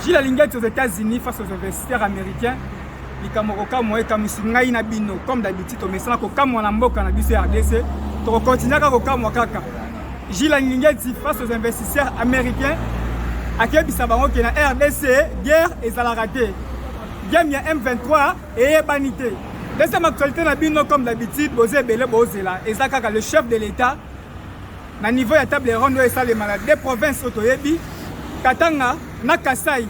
Gilles Alingeti aux États-Unis face aux investisseurs américains likambo kokamwa ekamwisi ngai na bino comme d'habitude tomesana kokamwa na mboka na biso ya rdc tokokontinue kaka kokamwa kaka Gilles Alingeti face aux investisseurs américains akebisa bango ke na rdc guerre ezalaka te game ya m23 eyebani te deuxième actualité na bino comme d'habitude boza ebele bozela eza kaka le chef de l'état na niveau ya table ronde oyo esalema na deux provinces oyo toyebi Katanga na Kasaï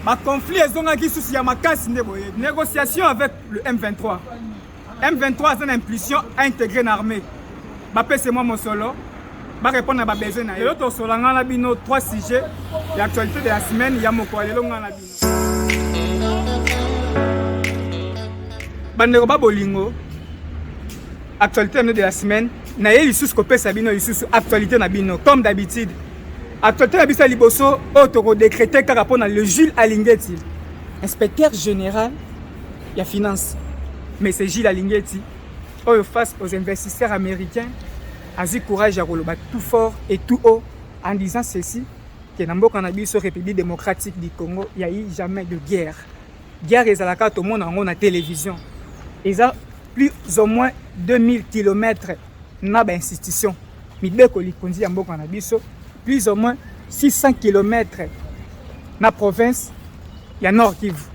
ba conflit ezongaki lisusu ya makasi nde boye négociation avec le M23 M23 aza na impulsion à intégrer na armée bapese mwa mosolo barépondre na babesoin na ye lelo tosolanga na bino trois sujets ya actualité de la semaine ya mokolo lelo ngai na bino bandeko ba bolingo actualité na de la semaine naye lisusu kopesa bino lisusu actualité na bino comme d'habitude actualité na biso ya liboso oyo tokodecrete kaka mpo na le jules alingeti inspecteur général ya finance mais c'est jules alingeti oyo face aux investisseurs américains azwi courage ya koloba tout fort et tout haut en disant ceci que na mboka na biso République démocratique du Congo il y a eu jamais de guerre guerre ezalaka tomona yango na télévision eza plus ou moins 2000 km na ba institution mibeko likonzi ya mboka na biso plus ou moins 600 km na province ya Nord Kivu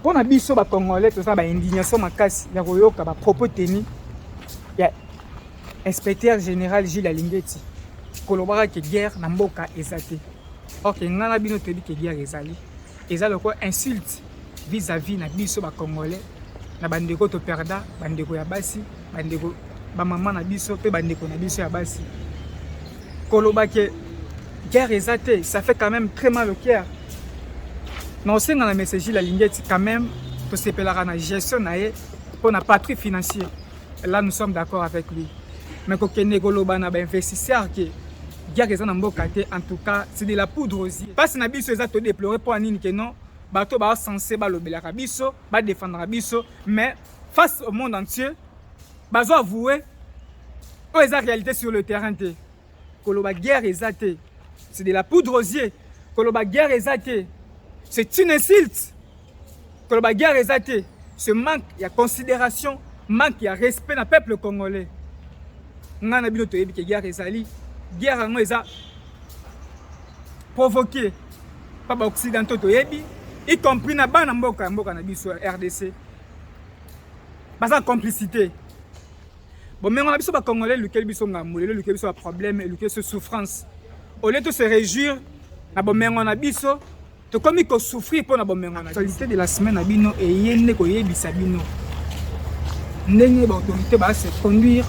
mpo na biso bakongolais toza ba indignation makasi ya koyoka bapropos teni ya Inspecteur General Gilles Alingeti kolobaka ke guerre na mboka eza te. Or ke ngai na bino toyebi ke guerre ezali. Eza lokola insulte vis-à-vis na biso ba Congolais na bandeko to perda bandeko ya basi bandeko bamama na biso mpe bandeko na biso ya basi koloba ke guerre eza te ça fait quand même très mal au cœur na osenga na messager la lingeti quand même tosepelaka na gestion na ye mpo na patrie financier Là, nous sommes d'accord avec lui. Mais kokende koloba na ba investisseurs que guerre eza na mboka te, en tout cas, c'est de la poudre aux yeux. Parce na biso eza to déplorer pour anini que non, bato ba censé ba lobelaka biso, ba défendre biso, mais face au monde entier, bazo avouer oyo eza réalité sur le terrain te. Koloba guerre eza te, c'est de la poudre aux yeux. Koloba guerre eza te, c'est une insulte. Koloba guerre eza te, ce manque ya considération, manque ya respect na peuple congolais. Nga na bino toyebi ke guerre ezali, guerre yango eza provoquer pa ba occidentaux toyebi, y compris na bana mboka ya mboka na biso ya RDC. Baza complicité. Bomengo na biso ba congolais lukeli biso ngambo, lelo lukeli biso ba problème, lukeli biso souffrance. Au lieu de se réjouir na bomengo na biso, tokomi ko souffrir mpo na bomengo na biso. Actualité de la semaine na bino eye nde koyebisa bino ndenge ba autorités ba se conduire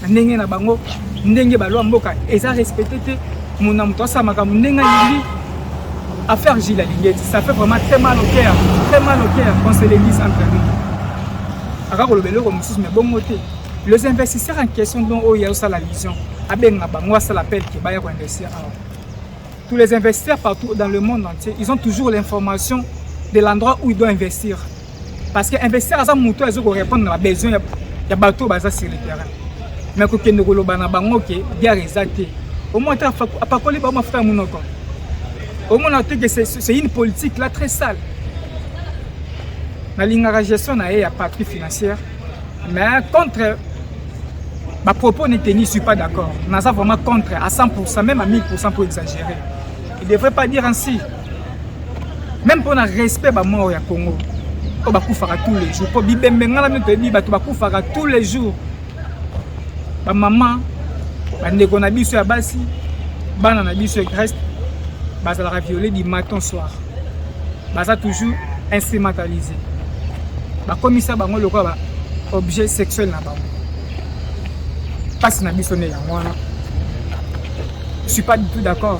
na ndenge na bango, ndenge ba loi mboka eza respecté te, mona moto asala makambo ndenge alingi affaire Gilles Alingeti, ça fait vraiment très mal au cœur, très mal au cœur qu'on se le dise entre nous. aka koloba eloko mosusu me bongo te les investisseurs en question donc oyo azosala vision abenga bango asala appel ke baya koinvestir awa tous les investisseurs partout dans le monde entier ils ont toujours l'information de l'endroit où ils doivent investir parce que investisseur aza moto azo korépondre na babesoin ya, ya bato oyo baza sur le terrain me kokende koloba na bango ke biare eza te omoi ata apakoli bango mafuta ya monoko omona te ke c'est une politique là très sale nalingaka gestion na ye ya patrie financière mais contre bapropos ne teni suis pas d'accord naza vraiment contre à 100 pourcent même à 1000 pourcent mpo exagérer il devrait pas dire ainsi même mpo na respect bamort ya congo oyo bakufaka tous les jours mpo bibembe ngai na mino toyebi bato bakufaka tous les jours ba mama bandeko na biso ya basi bana na biso ya greste bazalaka viole du matin soir baza toujours instrumentalise bakomisa bango lokola ba objet sexuel na bango mpasi na biso nde yango wana je suis pas du tout d'accord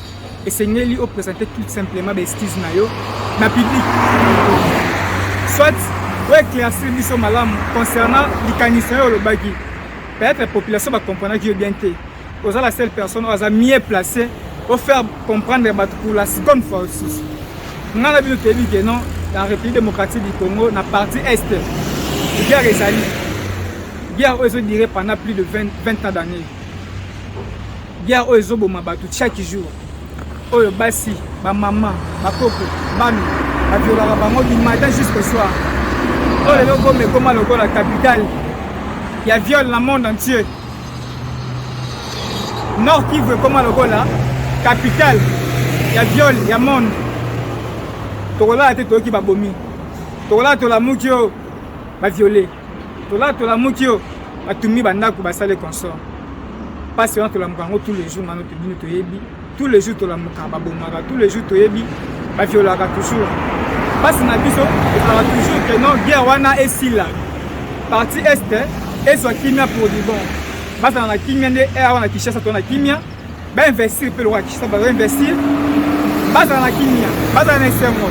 esengeli o presenter tout simplement ba excuses na yo na public soit o éclaircir biso malamu concernant likanisi oyo olobaki peut-être population bacomprenaki yo bien te oza la seule personne oyo aza mieux placé o faire comprendre bato pour la seconde fois osusu ngai na bino toyebi ke non la république démocratique du congo na partie est guerre ezali guerre oyo ezodire pendant plus de 20, 20 ans d'année Guerre oyo ezoboma bato chaque jour. Oyo basi, ba maman, ba koko, bana, ba violaka bango du matin jusqu'au soir. Oyo lelo gome ekoma lokola capitale ya viol na monde entier. Nord Kivu ekoma lokola capitale ya viol ya monde. Tokolala te toyoki babomi. Tokolala tolamuki yo ba viole. tola tolamuki yo batumbi bandako basale consort mpasi wana tolamuka yango tous les jours ngano tobino toyebi tous les jours tolamuka babomaka tous les jours toyebi baviolaka toujours mpasi na biso ezalaka toujours ke non guerre wana esila parti est ezwa kimia pour du bon bazala na kimia nde eh, awa na kinshasa to na kimia bainvestir mpe lokola kinshasa bainvestir bazala na kimia bazala na esengo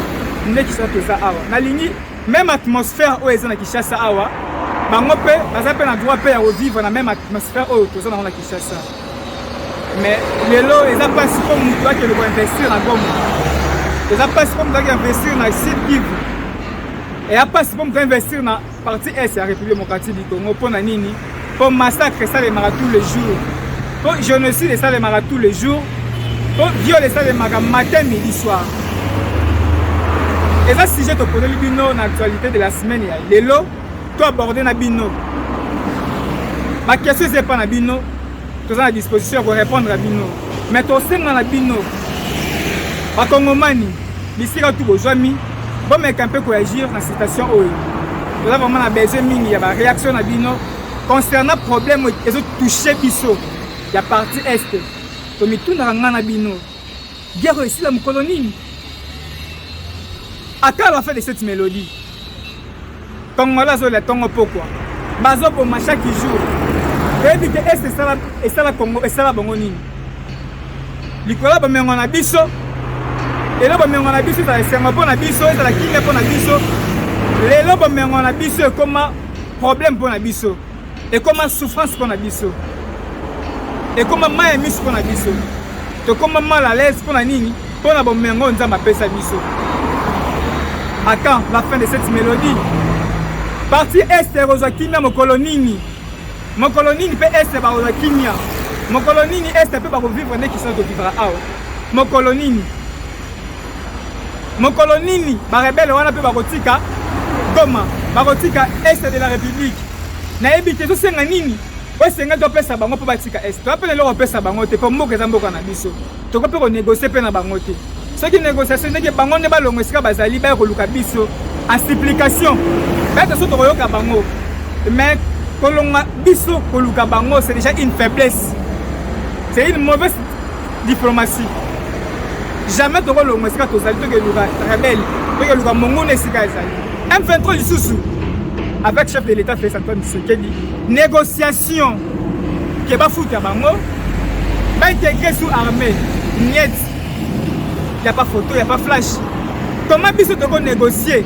nde kinshasa toza awa nalingi Meme atmosphère oyo eza na Kinshasa awa, bango mpe baza mpe na droit mpe ya kovivre na meme atmosphère oyo toza nango na Kinshasa. Mais lelo eza mpasi mpo motu akende koinvestir na Goma, eza mpasi mpo motu akende investir na Sud Kivu, eya mpasi mpo motu ainvestir na partie est ya République démocratique du Congo. Mpo na nini? mpo massacre esalemaka tous les jours mpo génocide esalemaka tous les jours mpo viole esalemaka matin midi soir eza sujet toponeli bino na actualité de la semaine ya lelo to aborde na bino bakestion eza epa na bino toza na disposition ya ko répondre à bino mais tosenga na bino bakongomani bisika tu bozwami bomeka mpe koagir na situation oyo toza vraiment na besoin mingi ya baréaction na bino concernant problème ezotouche biso ya parti est tomitunaka ngai na bino Guerre oyo esila mokolo nini? Ata à la fin de cette mélodie, Congolais azolia tongo pokwa, bazoboma chaque jour. Oyebi te est esala esala Congo esala bango nini? Likolo bomengo na biso, lelo bomengo na biso ezala esengo mpo na biso, ezala kimia mpo na biso. Lelo bomengo na biso ekoma problème mpo na biso. ekoma souffrance pona biso ekoma mai ya miso pona biso tokoma mal à l'aise pona nini pona bomengo oyo nzambe apesa biso à quand la fin de cette mélodie parti este ekozwa kimia mokolo nini mokolo nini mpe este bakozwa kimia mokolo nini este mpe bakovivre nde kisana tovivra awa mokolo nini mokolo nini barebele wana mpe bakotika goma bakotika est de la république nayebi te ezosenga nini oyo esengeli topesa bango mpo batika est toya mpe na eloko opesa bango te mpo mboka eza mboka na biso tokoki mpe konegocie mpe na bango te soki négociation ndenge bango nde balongo esika bazali baya koluka biso en supplication baya toso tokoyoka bango mais kolonga biso koluka bango c'est déjà une faiblesse c'est une mauvaise diplomatie jamais tokolongwa esika tozali tokeluka rebele tokeluka monguna esika ezali m23 lisusu avec chef de l'état félix antoine tshisekedi négociation ke bafuta bango baintegre sous armée niet ya pas photo ya pas flash toma biso tokonégocie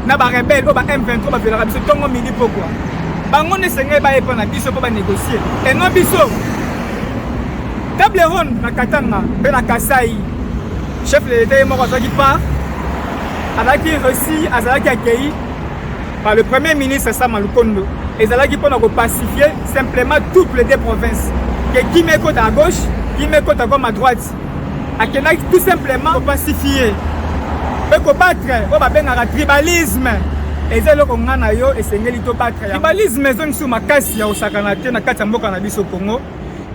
na ba rebelle oyo ba M23 ba violaka biso tongo midi pokwa bango nde esengeli bayepa na biso mpo ba négocier et non biso table ronde na Katanga mpe na Kasai chef de l'État ye moko azwaki part azalaki reçu azalaki accueilli par le premier ministre Sama Lukondo ezalaki mpo na kopacifier simplement toutes les deux provinces ke kimia ekota à gauche kimia ekota comme à droite akendaki tout simplement kopacifie mpe kobatre oyo babengaka tribalisme eza eloko ngai na yo esengeli tobatre tribalisme ezongisi makasi ya kosakana te na kati ya mboka na biso congo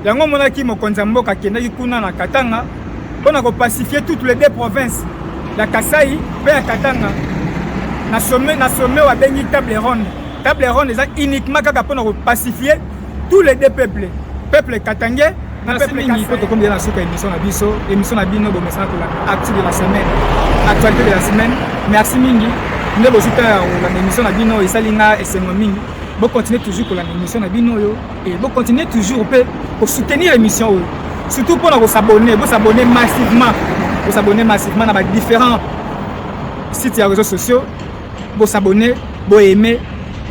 yango omonaki mokonzi ya mboka akendaki kuna na katanga mpo na kopacifie toutes les deux provinces ya kasai mpe ya katanga na sommet na sommet wabengi table ronde table ronde eza uniquement kaka mpo na kopacifie tous les deux peuples peuple katangais Merci mingi mpo tokomi deja na suka émission na biso émission na bino bomesana kolanda actu de la semaine actualité de la semaine merci mingi nde bozwi ntango ya kolanda émission na bino esali nga esengo mingi bocontinue toujours kolanda émission na bino oyo e bocontinue toujours mpe kosoutenir émission oyo surtout mpo na kosabonne bosabonne massivement bosabonne massivement na ba différents sites ya réseaux sociaux bo s'abonner bo aimer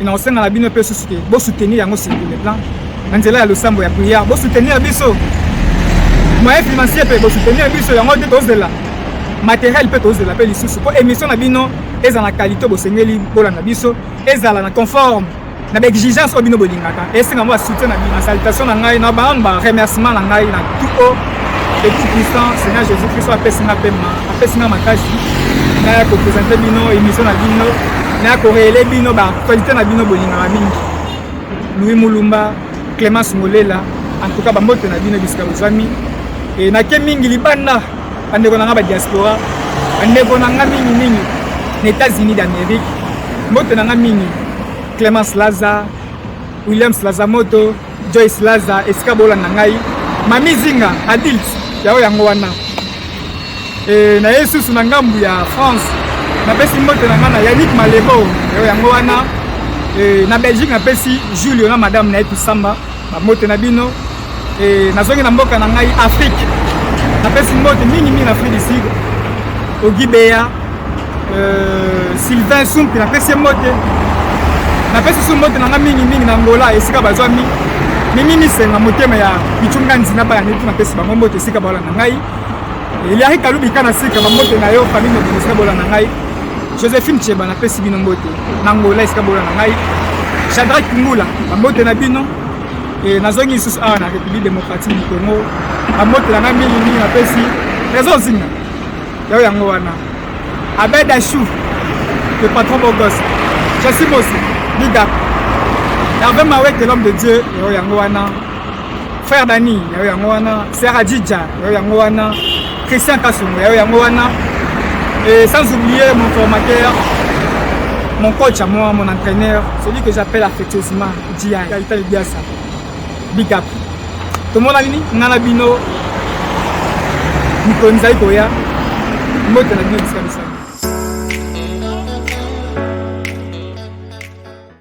na kosenga na bino mpe susu te bo soutenir yango sur le plan na nzela ya losambo ya prière bo soutenir biso moyen financier mpe bo soutenir biso yango nde tozela matériel mpe tozela mpe lisusu mpo émission na bino ezala na qualité bosengeli bolanda biso ezala na conforme na ba exigence oyo bino bolingaka esenga mwa soutien na bino salutation na ngai na bango ba remerciement na ngai na tout haut et tout puissant Seigneur Jésus Christ apesi nga pema apesi nga makasi na ya ko présenter bino émission na bino na ya ko révéler bino ba qualité na bino bolingaka mingi Louis Mulumba Clémence Molela en tout cas ba mbote na bino bisika bozami et na ke mingi libanda bandeko na nga ba diaspora bandeko na nga mingi mingi na états-unis d'amérique mbote na nga mingi clemence laza williams laza moto joyce laza esika bolanda ngai mami zinga adilt yango yango wana e, na ye susu na ngambu ya france napesi mbote na ngai na yannick malebo yango yango wana e, na belgique napesi julio na madame na ye tusamba Bamote na bino e, nazongi na mboka na ngai Afrique. Napesi mbote mingi mingi na Afrique du Sud, Ogibeya e, euh, Sylvain Sumpi, napesi mbote napesi su mbote na ngai mingi mingi na Angola esika bazwami mimi misenga motema ya bichunga nzina bana netu napesi bango mbote esika baola na ngai Eliari Kalubi kana sika mambote na yo famille mobimba esika bola na ngai Josephine Cheba napesi bino mbote na Angola esika bola na ngai Shadrach Ngula mambote na bino e nazongi lisusu awa na République démocratique du Congo mambote na ngai mingi mingi napesi Trésor Zinga yao yango wana Abed Achou le patron beau gosse Jessie Mosi big up Hervé Mawete l'homme de Dieu yao yango wana frère dani yayo yango wana sera jija yayo yango wana christian kasongo yayo yango wana et sans oublier mon formateur mon coach à moi mon entraîneur celui que j'appelle affectueusement jia itali biasa big up tomonani nini nga na bino mikolo mizali koya mbote na bino bisika bisala